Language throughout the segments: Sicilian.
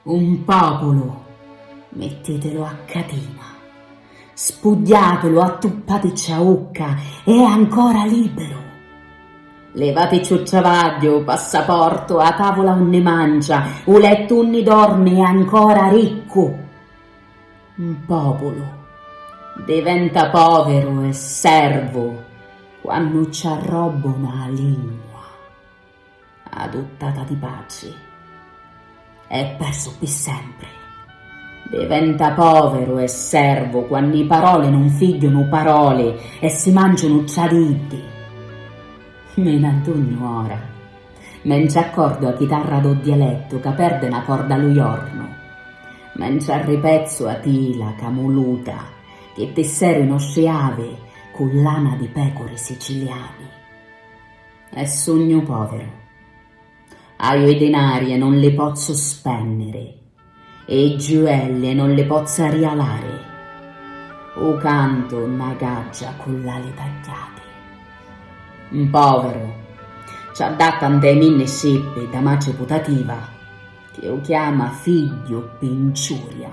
Un populu, mittitillu a catina, spugghiatillu, attuppaticci a ucca, è ancora liberu. Levaticciu travagghiu, u passaportu, a tavula unni mancia, u lettu unni dormi è ancora riccu. Un populu diventa poviru e servu quannu ci arrobbuna a lingua. Aduttata di patri. E persu pi sempri. Diventa poveru e servu quannu i paroli nun figghiunu paroli e si manciunu tra di iddi. Mi n'addugnu ora. Me nci accordu a chitarra do dialettu ca perde na corda lu jornu. Me nci arripezzu a tila camuluta chi tisseru i nostri avi cu lana di pecuri siciliani. E sugnu poviru. Haju i dinari e non li pozzu spenniri e i giuelli e non li pozzu arrialari. U cantu na gaggia cu l'ali tagghiati. Un poviru ci addatta nta i minni scippi da matri putativa chi u chiama figghiu pi nciuria.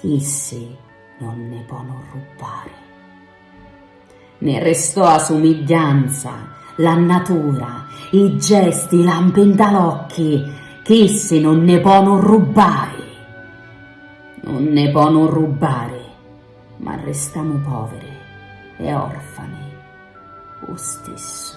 Issi non ne ponu rrubbari. Ne restò a sumigghianza, la nnatura, i gesti, i lampi nta l'occhi, ch'issi non ne ponu rrubbari. Non ne ponu rrubbari, ma restamu poviri e orfani u stissu.